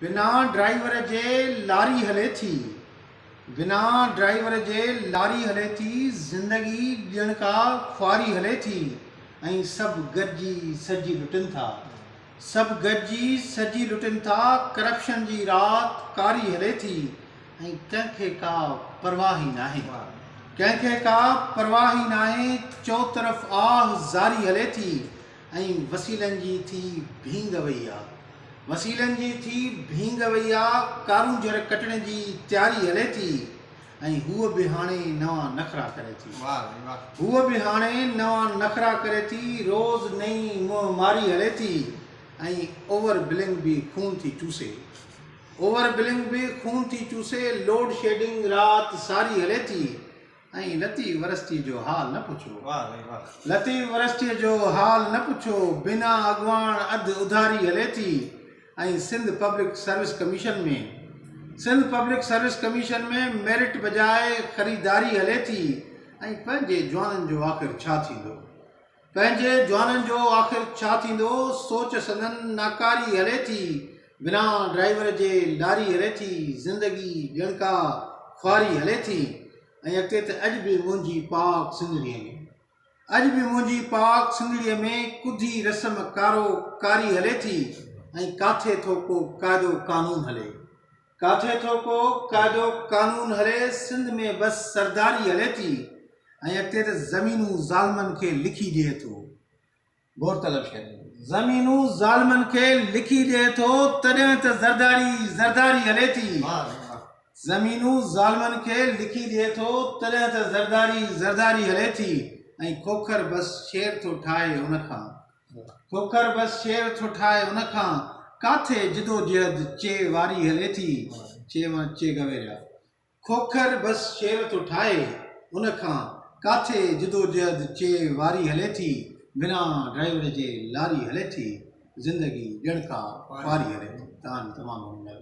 بنا ڊرائيور جي لاري هلي ٿي بنا ڊرائيور جي لاري هلي ٿي زندگي ڄڻ ڪا خواري هلي ٿي ۽ سڀ گڏجي سڏجي لٽن ٿا سڀ گڏجي سڏجي لٽن ٿا ڪرپشن جي رات ڪاري هلي ٿي ۽ ڪنهن کي ڪا پرواهه ئي ناهي ڪنهن کي ڪا پرواهه ئي ناهي چوطرف آهه زاري هلي ٿي ۽ وسيلن جي ٿي ڀينگ وئي آ. وسيلن جي ٿي ڀينگ وئي آ، ڪارونجهر ڪٽڻ جي تياري هلي ٿي ۽ هوء به هاڻي نوان نخرا ڪري ٿي. هوء به هاڻي نوان نخرا ڪري ٿي، روز نئين منهن ماري هلي ٿي ۽ اوور بلنگ به خون ٿي چوسي. اوور بلنگ به خون ٿي چوسي، لوڊ شيڊنگ رات ساري هلي ٿي. ۽ لطيف يونيورسٽيء جو حال نه پڇو. واه سائين واه. لطيف يونيورسٽيء جو حال نه پڇو، بنا اڳواڻ اڌ اڌاري هلي ٿي ۽ Sindh public service commission ۾. Sindh public service commission ۾ merit بجاء خريداري هلي ٿي ۽ پنهنجي جوانن جو آخر ڇا ٿيندو؟ پنهنجي جوانن جو آخر ڇا ٿيندو سوچ سندن ناڪاري هلي ٿي بنا ڊرائيور جي لاري هلي ٿي زندگي ڳڻڪا خواري هلي ٿي ۽ اڳتي ته اڄ به منهنجي پاڪ سنڌڙي ۾ اڄ به منهنجي پاڪ سنڌڙي ۾ ڪڌي رسم ڪارو ڪاري هلي ٿي ۽ ڪاٿي ٿو ڪو قاعدو قانون هلي ڪاٿي ٿو ڪو قاعدو قانون هلي سنڌ ۾ بس سرداري هلي ٿي ۽ اڳتي ته زمينون ظالمن کي لکي ڏئي ٿو غور طلب شير زمينون ظالمن کي لکي ڏئي ٿو تڏهن ته زرداري زرداري هلي ٿي زمينون ظالمن کي لکي ڏئي ٿو تڏهن ته زرداري زرداري هلي ٿي ۽ کوکر بس شير ٿو ٺاهي ان کان کوکر بس شير ٿو ٺاهي ان کان ڪاٿي جدوجهد چي واري هلي ٿي چي مان چي گويريا کوکر بس شير ٿو ٺاهي ان کان ڪاٿي جدوجهد چي واري هلي ٿي بنا ڊرائيور جي لاري هلي ٿي زندگي ڄڻڪا خواري هلي ٿي تان تمام گهڻو